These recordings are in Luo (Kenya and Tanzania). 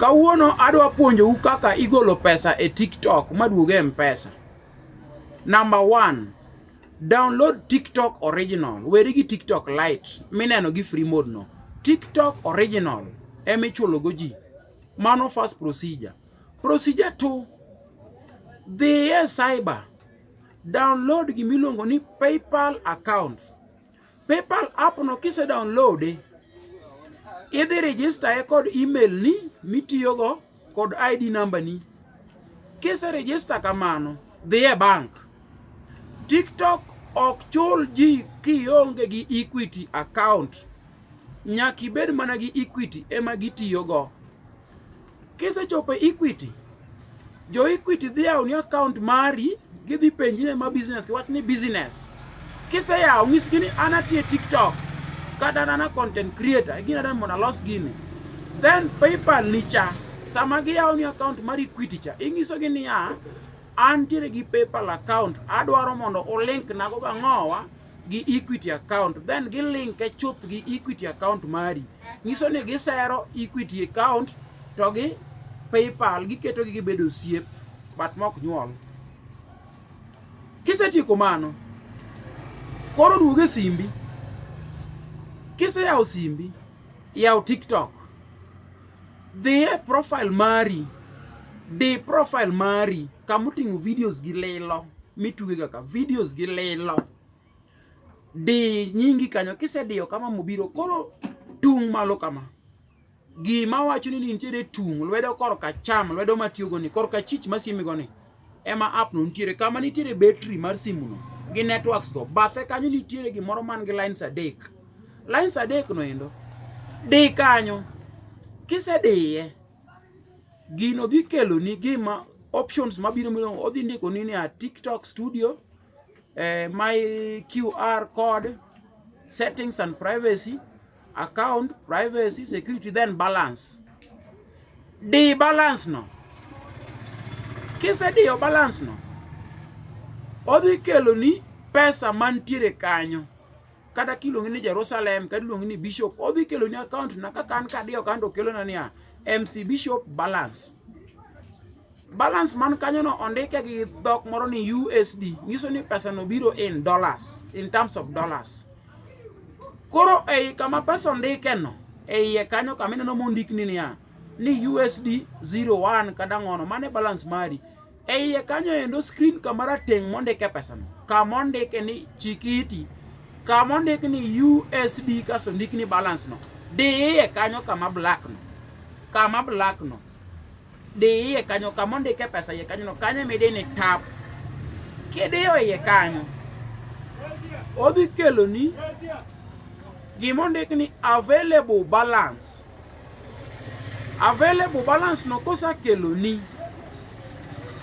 Kawuono adwa puonjou kaka igolo pesa e TikTok maduog e Mpesa. Number one, download TikTok original. Weri gi TikTok Lite mineno gi free mode no. TikTok original ema ichulogo ji. Mano first procedure. Procedure two, dhi e cyber download gimiluongo ni PayPal account. PayPal app no kise download e, idhi register e kod email ni mitiyogo kod ID number ni. Kise register kamano, dhi e bank. TikTok ok chul ji kionge gi Equity account. Nyaka ibed mana gi Equity ema gitiyogo. Kisechopo e Equity, jo Equity dhi yawo ni account mari, gidhi penji ni ma business, kiwach ni business. Kiseyawo nyisgi ni an atiyo e TikTok kata an ana content creator, gin adwa mondo alos gini. Then PayPal ni cha, sama giyawo ni account mar Equity cha, inyisogi niya, antiere gi PayPal account, adwaro mondo ulink nago gang'owa gi Equity account then gi link e chuth gi Equity account mari nyiso ni gisero Equity account to gi PayPal giketo gi gibedo osiep but mok nyuol kisetieko mano koro duoge e simbi kiseyawo simbi yaw TikTok Dhi e profile mari. Di profile mari kama oting'o videos gi lilo mitugega ka videos gi lilo. Di nyingi kanyo kisediyo kama mobiro koro tung' malo kama. Gima wacho ni nitiere tung' lwedo korka cham lwedo matiyogo ni korka chich masiemego ni. ema app no nitiere kama nitiere battery mar simu no gi networks go bathe kanyo nitiere gimoro man gi lines adek lines adek no endo di kanyo kisediye gino dhi kelo ni gima options mabiro mino odhi ndiko ni ni a TikTok studio eh, my QR code settings and privacy Account, privacy, security, then balance. Di balance no. Kisediyo balance no, odhi keloni pesa mantiere kanyo kata kiluongi ni Jerusalem kata iluongi ni bishop odhi kelo ni account na kaka an kadiyo kanto kelona niya MC bishop balance balance man kanyono ondike gi dhok moro ni USD nyiso ni pesa no biro in dollars in terms of dollars koro ei kama pesa ondike no eiye kanyo kama ineno mondik ni niya ni USD 01 kada ng'ono mane balance mari eiye kanyo endo screen kama rateng' mondike pesa no kama ondike ni chikiti kama ondike ni USD kaso ndik ni balance no diye kanyo kama black no kama black no Di iye kanyo kama ondike pesa iye kanyono, kanyo ema idine tap. Kidiyo iye kanyo, odhi keloni gima ondik ni available balance. Available balance no kosakeloni,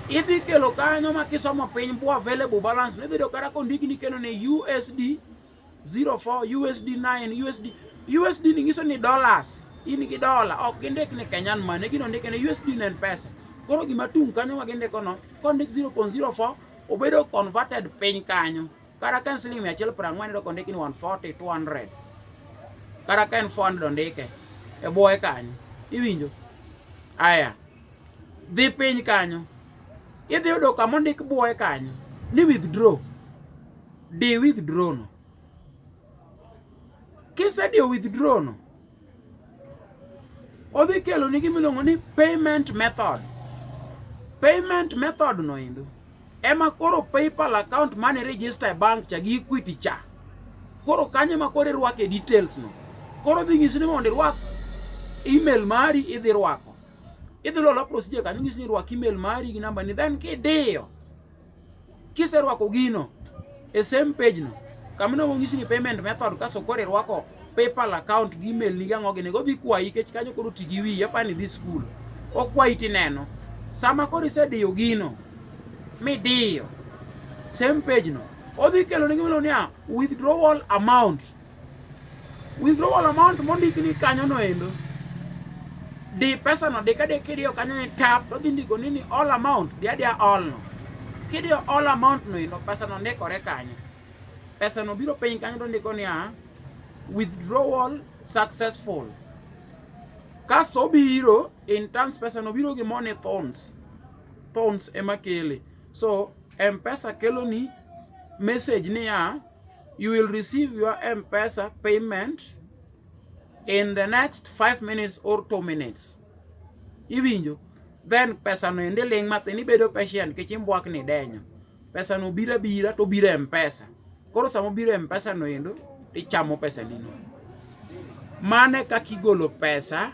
idhi kelo kanyo ma kisomo piny bu available balance no idhi yudo kata kondikni keno ni USD 04 USD 9 USD USD ni nyiso ni dollars in gi dola ok gindik ni Kenyan money gino ndike ni USD ne pesa koro gima tung kanyo ma gindiko no kondik 0.04 obedo converted piny kanyo kata ka en siling mia achiel piero ang'wen doko ndiki ni 140 200 kata ka en 400 ondike e bwoye kanyo iwinjo aya dhi piny kanyo idhi yudo kama ondik bwoye kanyo ni withdraw di withdraw no kisediyo withdraw no odhi kelo ni gimiluongo ni payment method payment method no endo ema koro paypal account mane register e bank cha gi equity cha koro kanyo ma koro irwake details no koro dhi nyisi ni mondo irwak email mari idhi rwako Idhi lolo pro sije kanyo ng'is ni rwak email mari gi namba ni then kidiyo. Kiserwako gino e same page no kamano wong'isi ni payment method kaso koro irwako PayPal account gi email ni gang'o gini go dhi kwayi kech kanyo koro ti gi wiyi apani dhi school okwayi tineno sama koro isediyo gino midiyo same page no odhi kelo ne gimelo niya withdrawal amount Withdrawal amount mondik ni kanyo no endo. Di pesa no deka de kidio kanyo ni tap to dindi go nini all amount dia dia all no. Kidio all amount no endo pesa no ndikore kanyo. Pesa no biro piny kanyo to ndiko ni ah withdrawal successful. Kaso biro in terms pesa no biro gi money thorns. Thorns ema kele. So M-Pesa keloni message niya You will receive your M-Pesa payment in the next 5 minutes or 2 minutes. Iwinjo? Then pesa no ende ling matin ibedo patient kech imbwak ni denyo. Pesa no bira bira to bira M-Pesa. Koro samo bira M-Pesa no endo ichamo pesa nino. Mane kakigolo pesa